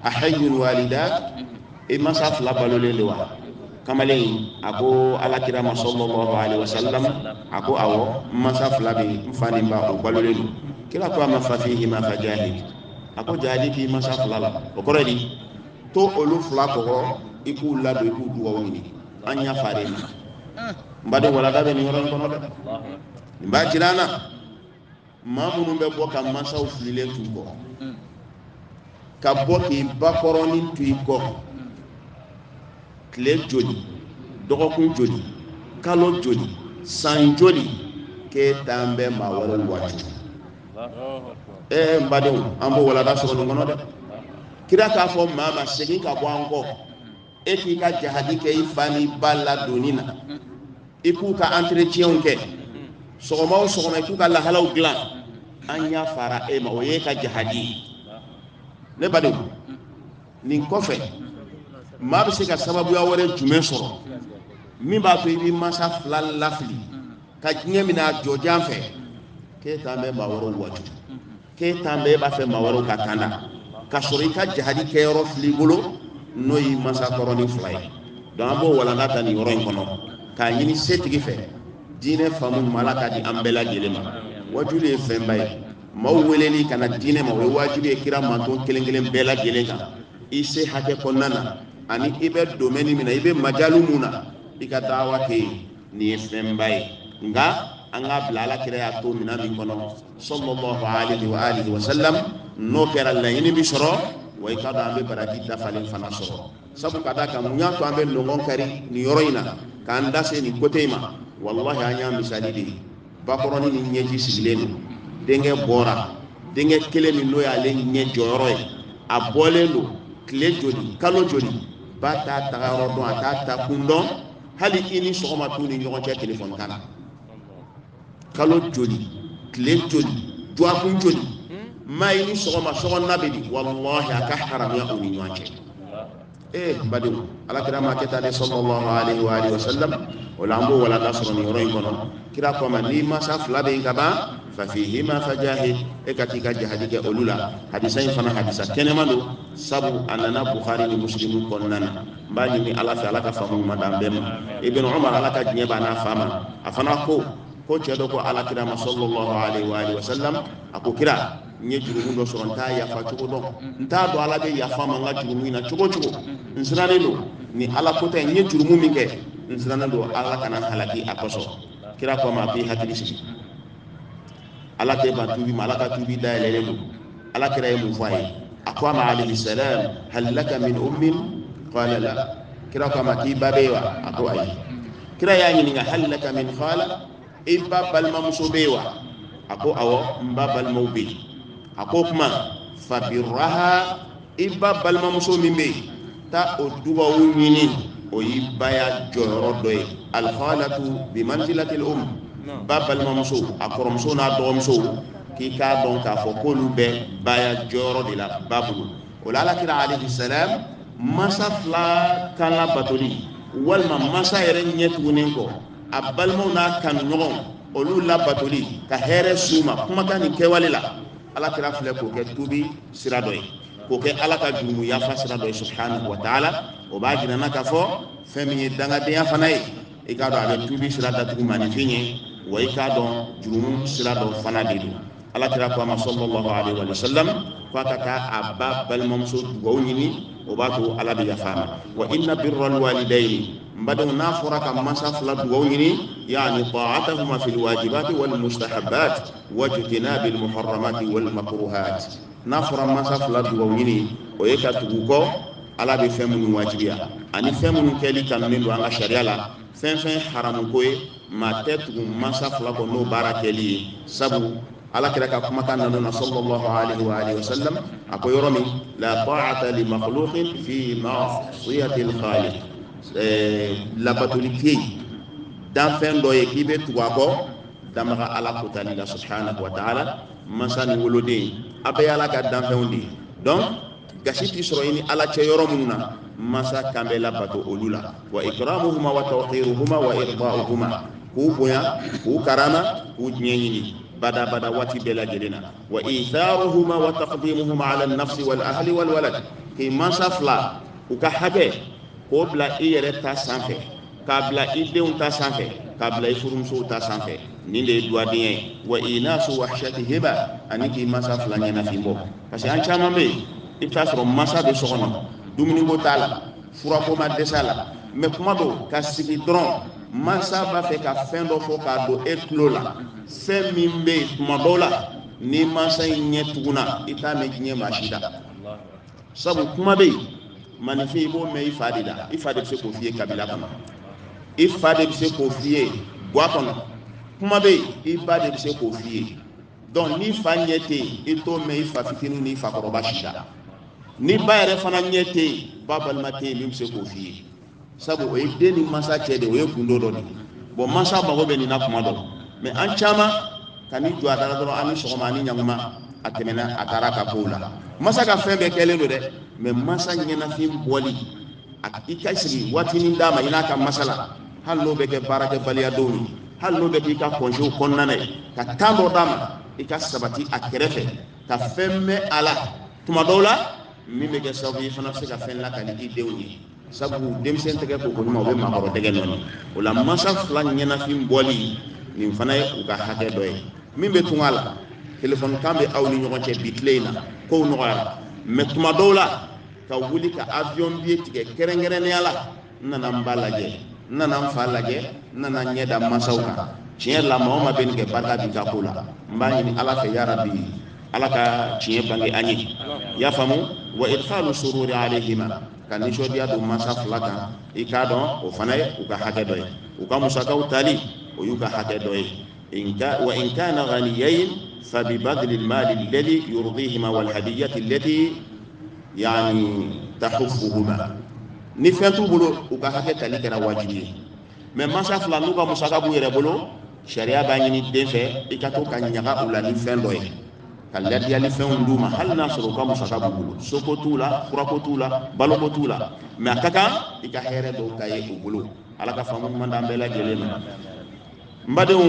a hayyun walidak i masa fila balolen de wa kamalen in a ko alakira ma sallallahu alaihi wasallam a ko awɔ masa fila bɛɛ n fa ni n ba o balolen don kira ko a ma fafihima fajahid a ko jahadi k'i masa fila la o kɔrɔ di to olu fila kɔkɔ i k'u ladon i k'u dugawu ɲini an yafara e ma n baden walanda bɛ nin yɔrɔ in kɔnɔ dɛ nin b'a jira an na maa minnu bɛ bɔ ka mansaw fililen t'u kɔ ka bɔ k'i ba kɔrɔni to i kɔ tile joli dɔgɔkun joli kalo joli san joli k'e taan bɛ maa wɛrɛw waaju ee n badenw an b'o walanda sɔrɔ nin kɔnɔ dɛ kira k'a fɔ maa ma segin ka bɔ an kɔ e k'i ka jahadi kɛ i fa ni i ba ladonni na i k'u ka entretienw kɛ sɔgɔma o sɔgɔma i k'u ka lahalaw dilan an yafara e ma o ye i ka jahadi ye ne badenw nin kɔfɛ maa bɛ se ka sababuya wɛrɛ jumɛn sɔrɔ min b'a to i b'i mansa fila lafili ka diɲɛ mina a jɔjan fɛ k'e taan bɛ maa wɛrɛw waaju k'e taan bɛ e b'a fɛ maa wɛrɛw ka kanda ka sɔrɔ i ka jahadi kɛyɔrɔ fil'i bolo n'o y'i mansa kɔrɔnin fila ye donc an b'o walanda ta nin yɔrɔ in kɔnɔ k'a ɲini setigi fɛ diinɛ faamu ɲuman ala k'a di an bɛɛ lajɛlen ma waajuli ye fɛnba ye maaw weleli ka na diinɛ ma o ye wajibi ye kira manton kelen kelen bɛɛ lajɛlen kan i se hakɛ kɔnɔna na ani i bɛ domaine min na i bɛ majalu mun na i ka daawa kɛ yen nin ye fɛnba ye nka an k'a bila ala kira y'a to minɛn min kɔnɔ sallallahu alaihi wa alihi wa sallam n'o kɛra laɲini bi sɔrɔ wa i k'a dɔn an bɛ baraji dafalen fana sɔrɔ sabu ka d'a kan mun y'a to an bɛ ɲɔgɔn kari nin yɔrɔ in na k'an da se nin kote in ma walahi an y'a misali de ye bakɔrɔni ni ɲɛji sigilen don denkɛ bɔra denkɛ kelen min n'o y'ale ɲɛ jɔyɔrɔ ye a bɔlen don tile joli kalo joli ba t'a tagayɔrɔ dɔn a t'a taakun dɔn hali i ni sɔgɔma t'u ni ɲɔgɔn cɛ telefɔni kan na kalo joli tile joli dɔgɔkun joli maa i ni sɔgɔma sɔgɔma bɛ di walahi a ka haramuya u ni ɲɔgɔn cɛ ee n badenw alakira m'a kɛ tan dɛ sallallahu alaihi wa alihi wa sallam o la an b'o walanda sɔrɔ nin yɔrɔ in kɔnɔ kira ko a ma n'i mansa fila bɛ yen ka ban fafihima fajahid e ka t'i ka jahadi kɛ olu la hadisa in fana hadisa kɛnɛman don sabu a nana buhari ni musilimu kɔnɔna na n b'a ɲini ala fɛ ala ka faamu ɲuman d'an bɛɛ ma ibn umar ala ka diɲɛ b'a n'a fa ma a fana ko ko cɛ dɔ ko ala kira ma sallallahu alaihi wa alihi wa sallam a ko kira n ye jurumu dɔ sɔrɔ n t'a yafa cogo dɔn n t'a dɔn ala bɛ yafa n ma n ka jurumu in na cogo cogo n sirannen don ni ala ko tɛ n ye jurumu min kɛ n sirannen don ala kana n halaki a kosɔn kira ko a ma a k'i hakili sigi ala kɛ ba tubi ma ala ka tubi da yɛlɛlen don ala kira ye mun fɔ a ye a ko a ma alayhi salam hal laka min ummin qala la kira ko a ma k'i ba bɛ yen wa a ko ayi kira y'a ɲininka hal laka min khala i ba balimamuso bɛ yen wa a ko awɔ n ba balimaw bɛ yen a ko o tuma fabirraha i ba balimamuso min bɛ yen taa o dugawu ɲini o ye baya jɔyɔrɔ dɔ ye al-khalatu bimanzilatil ummi ba balimamuso a kɔrɔmuso n'a dɔgɔmuso k'i k'a dɔn k'a fɔ k'olu bɛ baya jɔyɔrɔ de la ba bolo o la ala kira alayhi salam mansa fila kan labatoli walima mansa yɛrɛ ɲɛ tugunnen kɔ a balimaw n'a kanuɲɔgɔnw olu labatoli ka hɛrɛ s'u ma kumakan ni kɛwale la ala kira filɛ k'o kɛ tubi sira dɔ ye k'o kɛ ala ka jurumu yafa sira dɔ ye subhanahu wa taala o b'a jira an na k'a fɔ fɛn min ye dangadenya fana ye i k'a dɔn a bɛ tubi sira datugu maninfin ɲɛ wa i k'a dɔn jurumu sira dɔ fana de don ala kira ko a ma sallallahu alaihi wa sallam ko a ka taa a ba balimamuso dugawu ɲini o b'a to ala bɛ yafa ma wa inna birral walidayni n badenw n'a fɔra ka mansa fila dugawu ɲini yani taatahuma fil wajibati wal mustahabat wajtinabul muharramati wal makruhat n'a fɔra mansa fila dugaw ɲini o ye ka tugu u kɔ ala bɛ fɛn minnu wajibiya ani fɛn minnu kɛli kanunen don an ka sariya la fɛn fɛn haramu ko ye maa tɛ tugu mansa fila kɔ n'o baara kɛli ye sabu ala kira ka kumakan nana na sallallahu alaihi wa alihi wasallam a ko yɔrɔ min la ta'ata li makhluqin fi ma'siyati al-khaliq eh, labatoli tɛ yen danfɛn dɔ ye k'i bɛ tugu a kɔ danbaga ala kutali la subhanahu wa ta'ala mansa ni woloden a bɛɛ ye ala ka danfɛnw de ye donc gasi tɛ sɔrɔ i ni ala cɛ yɔrɔ minnu na mansa kan bɛ labato olu la wa ikramuhuma wa tawqiruhuma wa irda'uhuma k'u bonya k'u karama k'u diɲɛ ɲini bada bada waati bɛɛ lajɛlen na wa itharuhuma wa taqdimuhuma ala nafsi wal ahli wal walad k'i mansa fila u ka hakɛ k'o bila i yɛrɛ ta sanfɛ k'a bila i denw ta sanfɛ k'a bila i furumusow ta sanfɛ nin de ye duwadenya ye wa inasu wahshatihima ani k'i mansa fila ɲɛnafin bɔ parce que an caman bɛ yen i bɛ t'a sɔrɔ mansa bɛ so kɔnɔ dumuniko t'a la furako ma dɛsɛ a la mɛ kuma dɔ ka sigi dɔrɔn mansa b'a fɛ ka fɛn dɔ fɔ k'a don e tulo la fɛn min bɛ yen tuma dɔw la ni mansa in ɲɛ tuguna i t'a mɛn diɲɛ maa si da sabu kuma bɛ yen maninfin i b'o mɛn i fa de da i fa de bɛ se k'o f'i ye kabila kɔnɔ i fa de bɛ se k'o f'i ye gwa kɔnɔ kuma bɛ yen i ba de bɛ se k'o f'i ye donc ni fa ɲɛ tɛ yen i t'o mɛn i fa fitinin ni fa kɔrɔba si da ni ba yɛrɛ fana ɲɛ tɛ yen ba balima tɛ yen min bɛ se k'o f'i ye sabu o ye den ni mansa cɛ de o ye gundo dɔ de ye bɔn mansa mago bɛ nin na kuma dɔ mɛ an caman ka n'i jɔ a da la dɔrɔn aw ni sɔgɔma ani ɲaguma a tɛmɛna a taara ka kow la mansa ka fɛn bɛɛ kɛlen don dɛ mɛ mansa ɲɛnafin bɔli i ka sigi waatinin d'a ma i n'a ka masala hali n'o bɛ kɛ baarakɛbaliya donw ye hali n'o bɛ k'i ka kɔnzew kɔnɔna na ye ka tan dɔ d'a ma i ka sabati a kɛrɛfɛ ka fɛn mɛn a la tuma dɔw la min bɛ kɛ sababu ye i fana bɛ se ka fɛn lakali i denw ye sabu denmisɛn tɛgɛ ko ko ɲuman o bɛ maakɔrɔ dɛgɛ nɔɔni o la mansa fila ɲɛnafin bɔli nin fana ye u ka hakɛ dɔ ye min bɛ tunga la telefɔni kan bɛ aw ni ɲɔgɔn cɛ bi tile in na kow nɔgɔyara mɛ tuma dɔw la ka wuli ka avion biye tigɛ kɛrɛnkɛrɛnnenya la n nana n ba lajɛ n nana n fa lajɛ n nana n ɲɛ da mansaw kan tiɲɛ la maa o maa bɛ nin kɛ barika b'i ka ko la n b'a ɲini ala fɛ yarabi ala ka tiɲɛ bange an ye i y'a faamu wa idkhalu sururi alayhima ka nisɔndiya don mansa fila kan i k'a dɔn o fana ye u ka hakɛ dɔ ye u ka musakaw tali o y'u ka hakɛ dɔ ye wa in kana ghaniyayin fabibadili mali ladhi yurdihima walhadiyati lati yani tahufuhuma ni fɛn t'u bolo u ka hakɛ tali kɛra wajibi ye mɛ mansa fila n'u ka musaka b'u yɛrɛ bolo sariya b'a ɲini den fɛ i ka to ka maga u la ni fɛn dɔ ye ka ladiyali fɛnw d'u ma hali n'a sɔrɔ u ka musaka b'u bolo soko t'u la furako t'u la baloko t'u la mɛ a ka kan i ka hɛrɛ dɔw ka ye u bolo ala ka faamu ɲuman d'an bɛɛ lajɛlen ma n badenw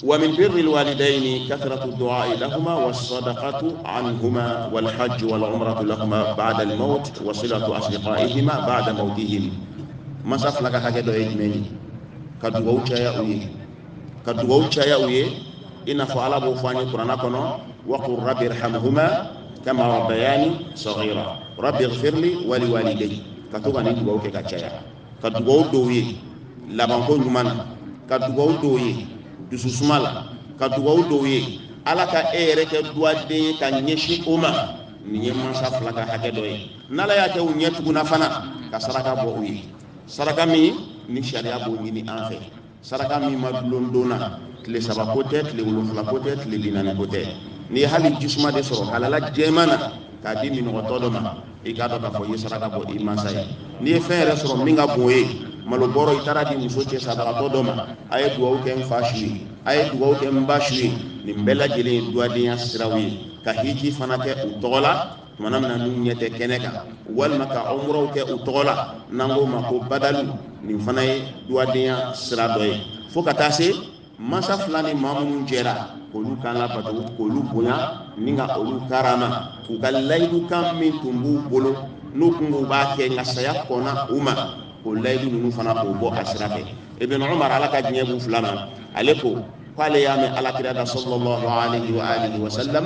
wa min birri lwalidaini kathratu duai lahuma wasadaqatu anhuma walhajju walumratu lahuma bada almaut wa silatu asdiqaihima bada mautihim mansa fila ka hakɛ dɔ ye jumɛn ye ka dugawu caya u ye ka dugawu caya u ye i n'a fɔ ala b'o fɔ an ye kuranna kɔnɔ waqul rabbi irhamhuma kama rabbayani saghira rabbi ighfirli wali walidayya ka to ka nin dugawu kɛ ka caya ka dugawu don u ye labanko ɲuman na ka dugawu don u ye dususuma la ka dugawu don u ye ala ka e yɛrɛ kɛ duwaden ye ka ɲɛsin o ma nin ye mansa fila ka hakɛ dɔ ye n'ala y'a kɛ u ɲɛ tuguna fana ka saraka bɔ u ye saraka min ni sariya b'o ɲini an fɛ saraka min ma dulon don na tile saba ko tɛ tile wolonfila ko tɛ tile bi naani ko tɛ n'i ye hali jisuma de sɔrɔ halala jɛman na k'a di minɔgɔtɔ dɔ ma i k'a dɔn k'a fɔ i ye saraka bɔ i mansa ye n'i ye fɛn yɛrɛ sɔrɔ min ka bon o ye malo bɔrɔ i taar'a di muso cɛ sabagatɔ dɔ ma a ye dugawu kɛ n fa su ye a ye dugawu kɛ n ba su ye nin bɛɛ lajɛlen ye duwadenya siraw ye ka hiji fana kɛ u tɔgɔ la tuma min na n'u ɲɛ tɛ kɛnɛ kan walima ka umuraw kɛ u tɔgɔ la n'an k'o ma ko badalu nin fana ye duwadenya sira dɔ ye fo ka taa se mansa fila ni maa minnu jɛra k'olu kan labato k'olu bonya ni ka olu karama k'u ka layidu kan min tun b'u bolo n'u kun k'u b'a kɛ nka saya kɔnna u ma k'o layidu ninnu fana k'o bɔ a sira fɛ ibn umar ala ka diɲɛ b'u fila ma ale ko k'ale y'a mɛn alakira da sallallahu alaihi wa alihi wa sallam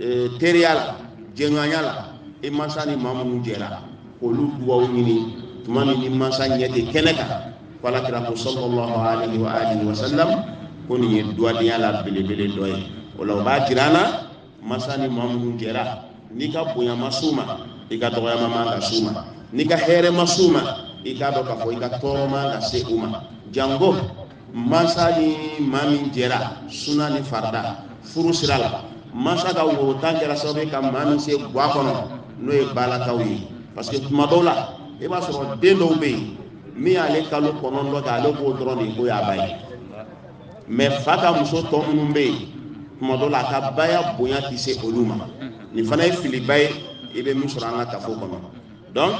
eh, teriya la jɛɲɔgɔnya la i mansa ni maa minnu jɛra k'olu dugawu ɲini tuma min n'i mansa ɲɛ tɛ kɛnɛ kan ko ala kira ko sallallahu alayhi wa alihi wa sallam ko nin ye duwadenya la belebele dɔ ye o la o b'a jira an na mansa ni maa minnu jɛra n'i ka bonya ma s'u ma i ka dɔgɔyama man ka s'u ma n'i ka hɛrɛ ma s'u ma i k'a dɔn k'a fɔ i ka tɔɔrɔ man ka se u ma janko mansa ni maa min jɛra suna ni farada furu sira la mansa ka woro tan kɛra sababu ye ka maa min se gwa kɔnɔ n'o ye baalakaw ye parce que tuma dɔw la i b'a sɔrɔ den dɔw bɛ yen min y'ale kalo kɔnɔntɔn kɛ ale b'o dɔrɔn de k'o y'a ba ye mais fa ka muso tɔ minnu bɛ yen tuma dɔw la a ka baya bonya tɛ se olu ma nin fana ye filiba ye i bɛ min sɔrɔ an ka kafo kɔnɔ donc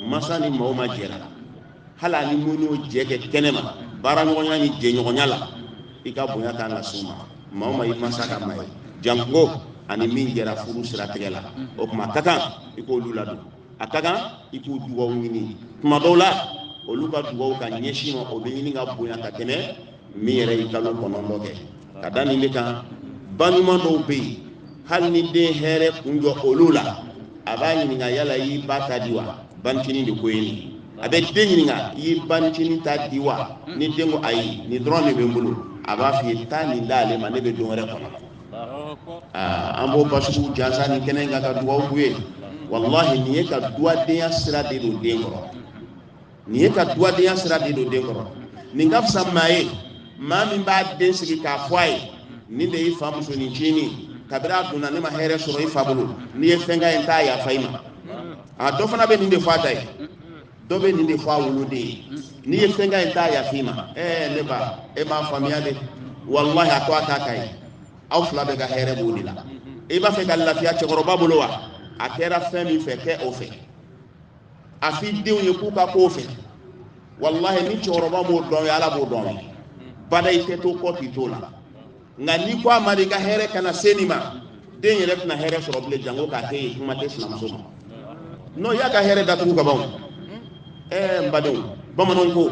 mansa ni maa o maa jɛra hali a ni min y'o jɛ kɛ kɛnɛma baara ɲɔgɔnya ni jɛɲɔgɔnya la i ka bonya kan ka s'u ma maa o maa i mansa ka maa ye janko a ni min jɛra furu siratigɛ la o tuma a ka kan i k'olu ladon a ka kan i k'u dugawu ɲini tuma dɔw la olu ka dugawu ka ɲɛsin i ma o bɛ ɲini ka bonya ka tɛmɛ min yɛrɛ y'i kalo kɔnɔntɔn kɛ ka da nin de kan ba ɲuman dɔw bɛ yen hali ni den hɛrɛ kun jɔ olu la a b'a ɲininka yala i y'i ba ta di wa ba ncinin de ko ye nin a bɛ den ɲininka i y'i ba ncinin ta di wa ni den ko ayi nin dɔrɔn de bɛ n bolo a b'a f'i ye taa nin d'ale ma ne bɛ don wɛrɛ kɔnɔ an b'o basugu jansa nin kɛnɛ in kan ka dugawu k'u ye walahi nin ye ka duwadenya sira de don den kɔrɔ nin ye ka duwadenya sira de don den kɔrɔ nin ka fisa maa ye maa min b'a den sigi k'a fɔ a ye nin de y'i fa muso ncinin kabiri a donna ne ma hɛrɛ sɔrɔ i fa bolo n'i ye fɛn k'a ye n t'a yafa i ma a dɔ fana bɛ nin de fɔ a ta ye dɔ bɛ nin de fɔ a woloden ye n'i ye fɛn k'a ye n t'a yafa i ma ɛɛ ne ba e m'a faamuya de walahi a to a k'a k'a ye aw fila bɛɛ ka hɛrɛ b'o de la i b'a fɛ ka lafiya cɛkɔrɔba bolo wa a kɛra fɛn min fɛ kɛ o fɛ a f'i denw ye k'u ka k'o fɛ walahi ni cɛkɔrɔba m'o dɔn i ye ala b'o dɔn i ye bada i tɛ to kɔ k'i t'o la nka n'i ko a ma de i ka hɛrɛ kana se nin ma denw yɛrɛ tɛna hɛrɛ sɔrɔ bilen janko k'a kɛ i ye kuma tɛ sinamuso ma n'o y'a ka hɛrɛ datugu ka ban ɛɛ n badenw bamananw ko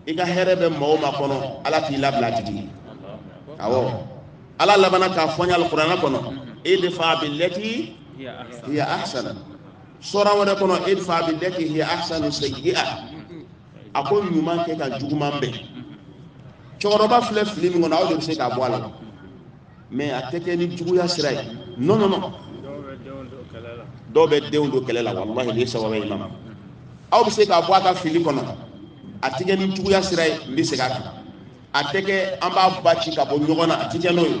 i ka hɛrɛ bɛ maa o maa kɔnɔ ala t'i labila a tigi awɔ ala labanna k'a fɔ an ye alikuranɛ kɔnɔ idfa billati hiya ahsan sura wɛrɛ kɔnɔ idfa billati hiya ahsanu sayyi'a a ko ɲuman kɛ ka juguman bɛn cɛkɔrɔba filɛ fili min kɔnɔ aw de bɛ se k'a bɔ a la mɛ a tɛ kɛ ni juguya sira ye non non non dɔw bɛ denw don kɛlɛ la walahi nin sababu ye ma aw bɛ se k'a bɔ a ka fili kɔnɔ a tɛ kɛ ni juguya sira ye n bɛ segin a kan a tɛ kɛ an b'a ba ci ka bɔ ɲɔgɔn na a tɛ kɛ n'o ye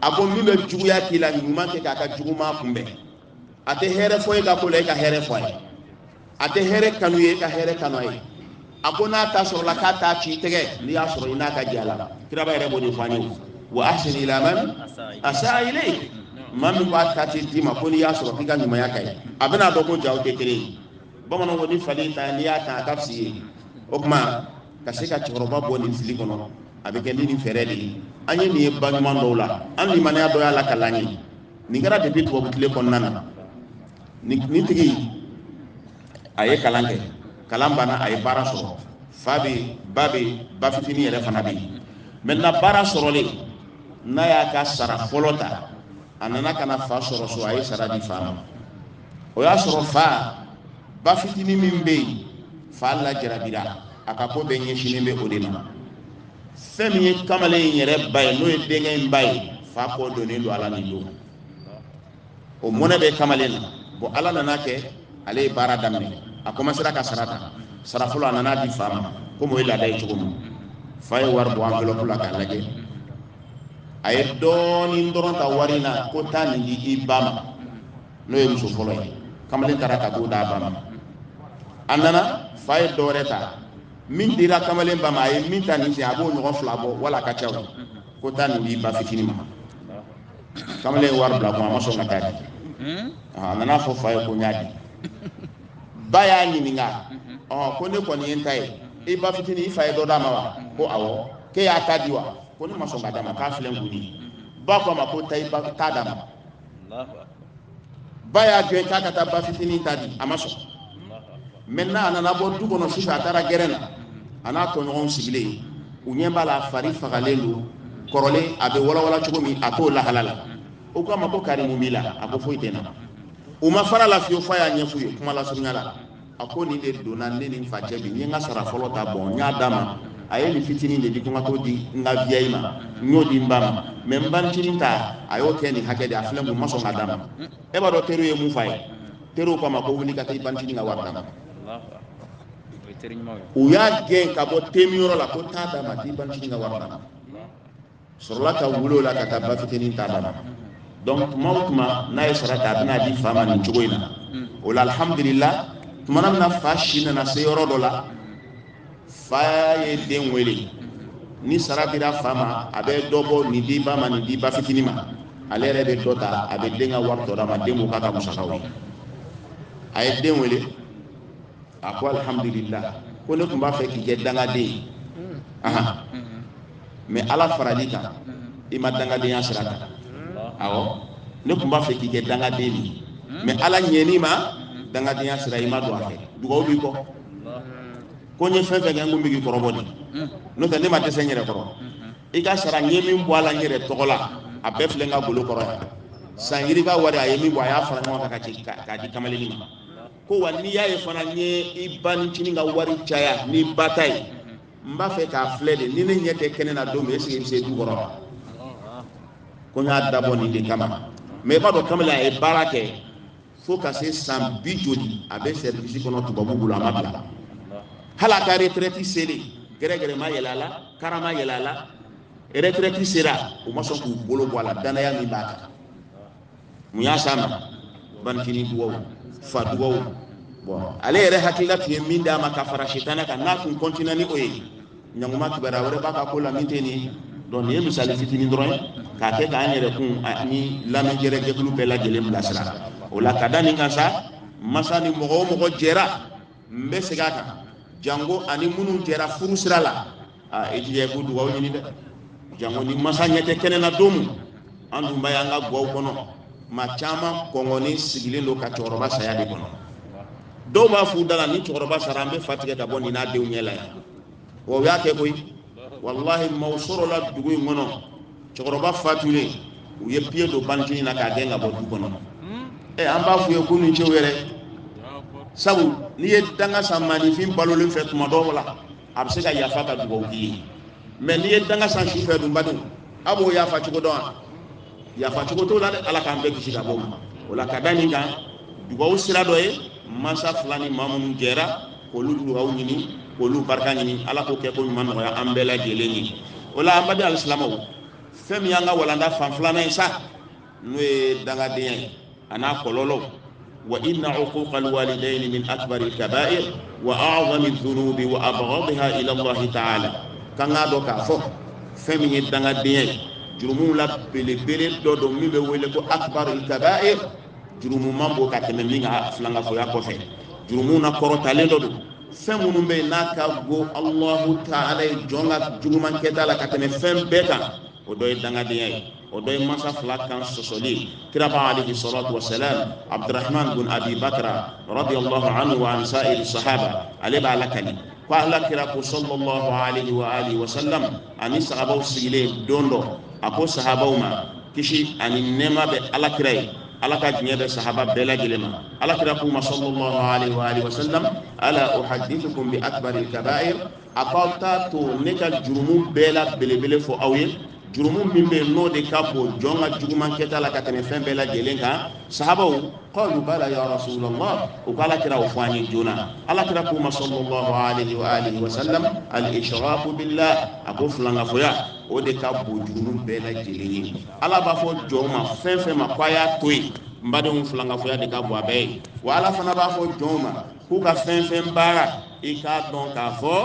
a ko min bɛ juguya k'i la ɲuman kɛ k'a ka juguman kunbɛn a tɛ hɛrɛ fɔ e ka ko la e ka hɛrɛ fɔ a ye a tɛ hɛrɛ kanu i ye e ka hɛrɛ kanu a ye a ko n'a ta sɔrɔla k'a t'a k'i tɛgɛ n'i y'a sɔrɔ i n'a ka jɛ a la kiraba yɛrɛ b'o de fɔ an ye wa ahsin ila man asaa ilayk maa min b'a ta ci d'i ma ko n'i y'a sɔrɔ k'i ka ɲumanya k'a ye a bɛna dɔn ko jaa aw tɛ kelen ye bamananw ko ni fali y'i tan n'i y'a tan a ka fisa i ye o tuma ka se ka cɛkɔrɔba bɔ nin fili kɔnɔ a bɛ kɛ ni nin fɛɛrɛ de ye an ye nin ye ba ɲuman dɔw la an limaniya dɔ y'a lakali an ye nin kɛra depi tubabu tile kɔnɔna na nin tigi a ye kalan kɛ kalan banna a ye baara sɔrɔ fa bɛ ba bɛ ba fitinin yɛrɛ fana bɛ yen mɛntɛnan baara sɔrɔlen a y'a ka sara fɔlɔ ta a nana ka na fa sɔrɔ so a ye sara di fa ma o y'a sɔrɔ fa ba fitinin min bɛ yen fa lajarabira a ka ko bɛɛ ɲɛsinnen bɛ o de ma fɛn min ye kamalen in yɛrɛ ba ye n'o ye denkɛ in ba ye fa kɔ donnen don a la nin don o mɔnɛ bɛ kamalen na bɔn ala nana kɛ ale ye baara daminɛ a kɔmansera ka sara ta sara fɔlɔ a nana di fa ma komi o ye laada ye cogo min fa ye wari bɔ enveloppe la k'a lajɛ a ye dɔɔnin dɔrɔn ta wari in na ko taa nin di i ba ma n'o ye muso fɔlɔ ye kamalen taara ka t'o d'a ba ma a nana fa ye dɔ wɛrɛ ta min dira kamalen ba ma a ye min ta nin sen a b'o ɲɔgɔn fila bɔ wala a ka ca o ko taa nin di i ba fitinin ma kamalen ye wari bila a kun a ma sɔn ka taa di a nana fɔ fa ye ko n y'a di ba y'a ɲininka ɔ ko ne kɔni ye n ta ye i ba fitinin i fa ye dɔ d'a ma wa ko awɔ k'e y'a ta di wa ko ne ma sɔn ka d'a ma k'a filɛ n kun ba ko a ma ko taa i ba ta d'a ma ba y'a gɛn k'a ka taa ba fitinin ta di a ma sɔn maintenant a nana bɔ du kɔnɔ sufɛ a taara gɛrɛn na a n'a tɔɲɔgɔnw sigilen u ɲɛ b'a la fari fagalen don kɔrɔlen a bɛ walawala cogo min a t'o lahala la u ko a ma ko kari mun b'i la a ko foyi tɛ n na u ma fara a la fiyewu f'a y'a ɲɛf'u ye kuma lasurunya la a ko nin de donna ne ni fa cɛ bi n ye n ka sara fɔlɔ ta bon n y'a d'a ma a ye nin fitinin de di ko n ka t'o di n ka vieille ma n y'o di n ba ma mais n banicinin ta a y'o kɛ nin hakɛ de a filɛ n kun n ma sɔn ka d'a ma e b'a dɔn teriw ye mun f'a ye teriw k'a ma ko wuli ka taa i banicinin ka wari d'a ma u y'a gɛn ka bɔ teminyɔrɔ la ko taa d'a ma t'i banicinin ka wari d'a ma sɔrɔla ka wuli o la ka taa ba fitinin ta d'a ma donc tuma o tuma n'a ye sara ta a bɛ n'a di fa ma nin cogo in na hmm. o la alhamdulila tuma na min na fa si nana se yɔrɔ dɔ la fa ye den wele ni sara dira fa ma a bɛ dɔ bɔ nin di ba ma nin di ba fitinin ma ale yɛrɛ bɛ dɔ ta a bɛ den ka wari tɔ d'a ma den b'o k'a ka musakaw ye a ye den wele a ko alhamdulila ko ne tun b'a fɛ k'i kɛ dangaden ye mais ala faral'i kan i ma dangadenya sira kan awɔ ne tun b'a fɛ k'i kɛ dangaden de ye mais ala ɲɛn'i ma dangadenya sira i ma don a fɛ dugawu b'i kɔ ko n ye fɛn fɛn kɛ n ko n bɛ k'i kɔrɔbɔ de n'o tɛ ne ma dɛsɛ n yɛrɛ kɔrɔ i ka sara n ye min bɔ a la n yɛrɛ tɔgɔ la a bɛɛ filɛ n ka golo kɔrɔ yan san yirika wari a ye min bɔ a y'a fara ɲɔgɔn kan k'a di kamalenin ma ko wa n'i y'a ye fana n ye i banicinin ka wari caya n'i ba ta ye n b'a fɛ k'a filɛ de ni ne ɲɛ tɛ kɛnɛ na don min est ce que i bɛ se du kɔrɔ wa ko n y'a dabɔ nin de kama mais i b'a dɔn kamalen a ye baara kɛ fo ka se san bi joli a bɛ sɛrivisi kɔnɔ tubabu bolo a ma bila hali a ka retraite selen gɛrɛgɛrɛ ma yɛlɛ a la kara ma yɛlɛ a la retraite sera u ma sɔn k'u bolo bɔ a la dannaya min b'a kan mun y'a s'a ma banicinin dugaw fa dugaw bon ale yɛrɛ hakilila tun ye min d'a ma ka fara sitanɛ kan n'a tun kɔntina ni o ye ɲanguma kibaruya wɛrɛ b'a ka ko la min tɛ nin donc nin ye misali fitini dɔrɔn ye k'a kɛ k'an yɛrɛ kun ani lamɛn jɛrɛ jɛkulu bɛɛ lajɛlen bilasira o la ka da nin kan sa masa ni mɔgɔ o mɔgɔ jɛra n bɛ segin a kan janko a ni minnu jɛra furu sira la aa i jija i k'u dugawu ɲini dɛ janko ni masa ɲɛ tɛ kɛnɛ na don min an dun b'a ye an ka guwaw kɔnɔ maa caman kɔngɔnen sigilen don ka cɛkɔrɔba saya de kɔnɔ dɔw b'a f'u da la ni cɛkɔrɔba sara an bɛ fa tigɛ ka bɔ nin n'a denw ɲɛ la yan wa u y'a kɛ koyi walahi maaw sɔrɔla dugu in kɔnɔ cɛkɔrɔba fatulen u ye piye don bantini na k'a gɛn ka bɔ du kɔnɔ ɛ eh, an b'a f'u ye k'u ni ce u yɛrɛ sabu n'i ye danga san maaninfin balolen fɛ tuma dɔw la a bɛ se ka yafa ka dugawu k'i ye mais n'i ye danga san su fɛ dunba dun a b'o yafa cogo dɔn wa yafa cogo t'o la dɛ ala k'an bɛɛ kisi ka bɔ o ma o la ka da nin kan dugawu sira dɔ ye mansa fila ni maa minnu jɛra k'olu dugawu ɲini k'olu barika ɲini ala k'o kɛko ɲuman nɔgɔya an bɛɛ lajɛlen ye o la an baden alisilamɛw fɛn min y'an ka walanda fan filanan ye sa n'o ye dangadenya ye a n'a kɔlɔlɔw wa inna uquqa alwalidaini min akbari alkabair wa a'zami dhunubi wa abghadiha ila allahi ta'ala k'an k'a dɔn k'a fɔ fɛn min ye dangadenya ye jurumuw la belebele dɔ don min bɛ wele ko akbar alkabair jurumu man bon ka tɛmɛ min kan filankafoya kɔfɛ jurumu na kɔrɔtalen dɔ don fɛn minnu bɛ yen n'a ka go allahu taala ye jɔn ka juguman kɛta la ka tɛmɛ fɛn bɛɛ kan o dɔ ye dangadenya ye o dɔ ye mansa fila kan sɔsɔli kiraba alayhi salatu wa salam abdurahman bin abi bakra radiyallahu anhu wa an sa'iri sahaba ale b'a lakali ko ala kira ko sallallahu alayhi wa alihi wa sallam a ni sahabaw sigilen don dɔ a ko sahabaw ma kisi ani nɛɛma bɛ alakira ye ala ka diɲɛ bɛ sahaba bɛɛ lajɛlen ma alakira k'u ma sallallahu alaihi wa alihi wa sallam ala uhadithukum bi akbaril kaba'ir a k'aw t'a to ne ka jurumu bɛɛ la belebele fɔ aw ye jurumu min bɛ yen n'o de ka bon jɔn ka juguman kɛta la ka tɛmɛ fɛn bɛɛ lajɛlen kan sahabaw qalu bala ya rasulallah u ko alakira o fɔ an ye joona alakira k'u ma sallallahu alayhi wa alihi wa sallam al-ishraku billah a ko filankafoya o de ka bon jurumu bɛɛ lajɛlen ye ala b'a fɔ jɔn ma fɛn fɛn ma k'a y'a to yen n badenw filankafoya de ka bon a bɛɛ ye wa ala fana b'a fɔ jɔn ma k'u ka fɛn fɛn baara i k'a dɔn k'a fɔ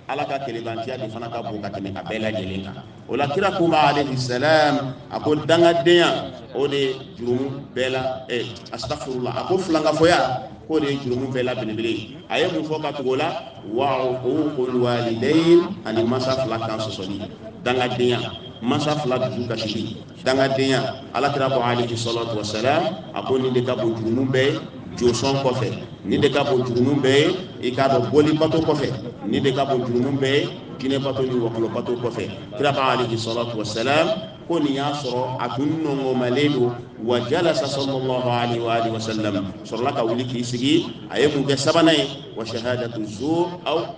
ala ka kelenbantiya de fana ka bon ka tɛmɛ a bɛɛ lajɛlen kan o la kira k'u ma alayhi salam a ko dangadenya o de ye jurumu bɛɛ la ɛ eh, astaghfirullah a ko filankafoya k'o de ye jurumu bɛɛ la belebele ye a ye mun fɔ ka tugu o la wa uququl walidaini ani mansa fila kan sɔsɔli dangadenya mansa fila dusu kasili dangadenya alakira ko alayhi salatu wasalam a ko nin de ka bon jurumu bɛɛ ye josɔn kɔfɛ nin de ka bon jurumu bɛɛ ye i k'a dɔn boli bato kɔfɛ nin de ka bon jurumu bɛɛ ye jinɛ bato ni wɔkulɔ bato kɔfɛ kira ko alayhi salatu wasalam ko nin y'a sɔrɔ a tun nɔngɔmalen don wa jalasa sallallahu alaihi wa alihi wa sallam sɔrɔla ka wuli k'i sigi a ye mun kɛ sabanan ye wa shahadatu zur aw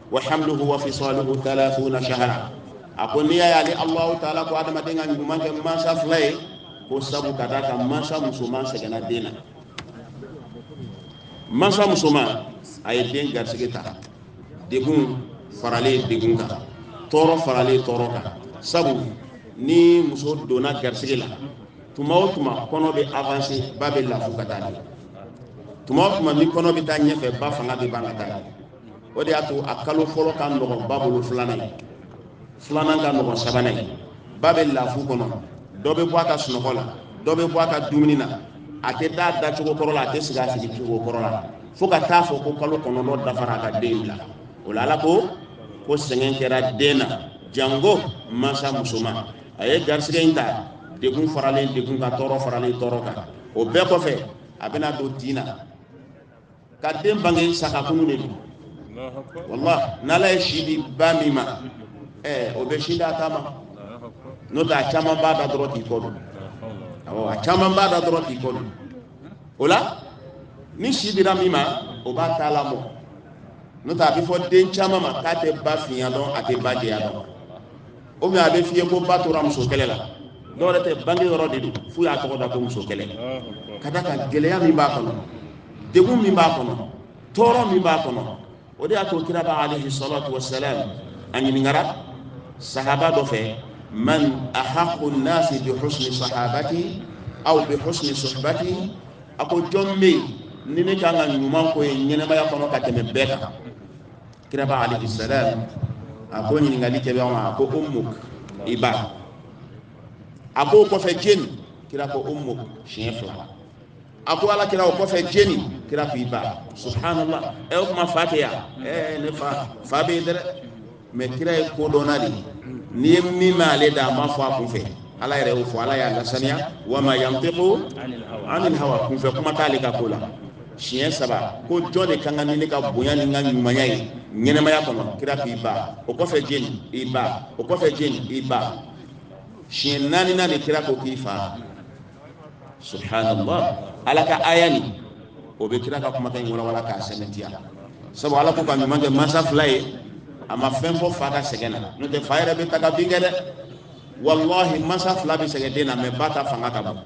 wa hamluhu wa fisaluhu 30 shahra a ko n'i y'a ye ale alahu taala ko adamaden ka ɲuman kɛ mansa fila ye ko sabu ka d'a kan mansa musoman sɛgɛnna den na mansa musoman a ye den garisɛgɛ ta degun faralen degun kan tɔɔrɔ faralen tɔɔrɔ kan sabu ni muso donna garisɛgɛ la tuma o tuma kɔnɔ bɛ avanse ba bɛ lafu ka taa ɲɛ tuma o tuma ni kɔnɔ bɛ taa ɲɛfɛ ba fanga bɛ ban ka taa ɲɛ o de y'a to a kalo fɔlɔ ka nɔgɔn ba bolo filanan ye filanan ka nɔgɔn sabanan ye ba bɛ lafu kɔnɔ dɔ bɛ bɔ a ka sunɔgɔ la dɔ bɛ bɔ a ka dumuni na a tɛ da a da cogo kɔrɔ la a tɛ sigi a sigi cogo kɔrɔ la fo ka t'a fɔ ko kalo kɔnɔntɔn dafara a ka den bila o la ala ko ko sɛgɛn kɛra den na jango mansa musoman a ye garisɛgɛ in ta degun faralen degun kan tɔɔrɔ faralen tɔɔrɔ kan o bɛɛ kɔfɛ a bɛna don tin na ka den bange sakakunu de don wala n'ala ye si di ba min ma ɛɛ o bɛ sin d'a ta ma n'o tɛ a caman b'a da dɔrɔn k'i kɔ don awɔ a caman b'a da dɔrɔn k'i kɔ don o la ni si dira min ma o b'a ta lamɔ n'o tɛ a bɛ fɔ den caman ma k'a tɛ ba finya dɔn a tɛ ba jɛya dɔn. o bɛ a bɛ f'i ye ko ba tora muso kɛlɛ la dɔw yɛrɛ tɛ bange yɔrɔ de don f'u y'a tɔgɔ da ko muso kɛlɛ ka d'a kan gɛlɛya min b'a kɔnɔ degun min b'a kɔnɔ tɔɔrɔ min b'a kɔnɔ o de y'a to kira ba alayhi salatu wa salam a ɲininkara sahaba dɔ fɛ man ahaqqu nnaasi bi husni sahabati aw bi husni suhbati a ko jɔn bɛ yen ni ne kan ka ɲuman k'o ye ɲɛnɛmaya kɔnɔ ka tɛmɛ bɛɛ kan kira ba alayhi salam a ko ɲininkalikɛbaa ma a ko ummuk i ba a ko o kɔfɛ jɔni kira ko ummuk siɲɛ fila a ko ala kira o kɔfɛ jɔni kira ko i ba subhanallah ɛ o kuma fa tɛ yan ɛɛ ne fa fa bɛ yen dɛ mɛ kira ye kodɔnna de n'i ye min mɛn ale da a m'a fɔ a kun fɛ ala yɛrɛ y'o fɔ ala y'a lasaniya wa ma yantiqu anil hawa kunfɛ kuma t'ale ka ko la siɲɛ saba ko jɔn de ka kan ni ne ka bonya ni n ka ɲumanya ye ɲɛnɛmaya kɔnɔ kira k'i ba o kɔfɛ jɔni i ba o kɔfɛ jɔni i ba siɲɛ naaninan kira ko k'i fa subhanallah ala ka aya nin o bɛ kira ka kumakan in walawala k'a sɛmɛntiya sabu ala ko ka ɲuman kɛ mansa fila ye a ma fɛn fɔ fa ka sɛgɛn na n'o tɛ fa yɛrɛ bɛ taga bin kɛ dɛ walahi mansa fila bɛ sɛgɛn den na mɛ ba ta fanga ka bon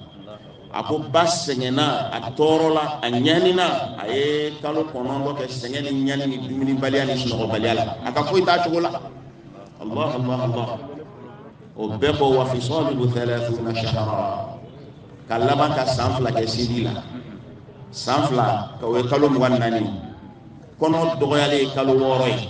a ko ba sɛgɛnna a tɔɔrɔla a ɲanina a ye kalo kɔnɔntɔn kɛ sɛgɛn ni ɲani ni dumunibaliya ni sunɔgɔbaliya la a ka foyi t'a cogo la allah allah allah o bɛɛ kɔ wa fisaluhu thalathuna shahara ka laban ka san fila kɛ sindi la san fila ka o ye kalo mugan ni naani kɔnɔ dɔgɔyalen ye kalo wɔɔrɔ ye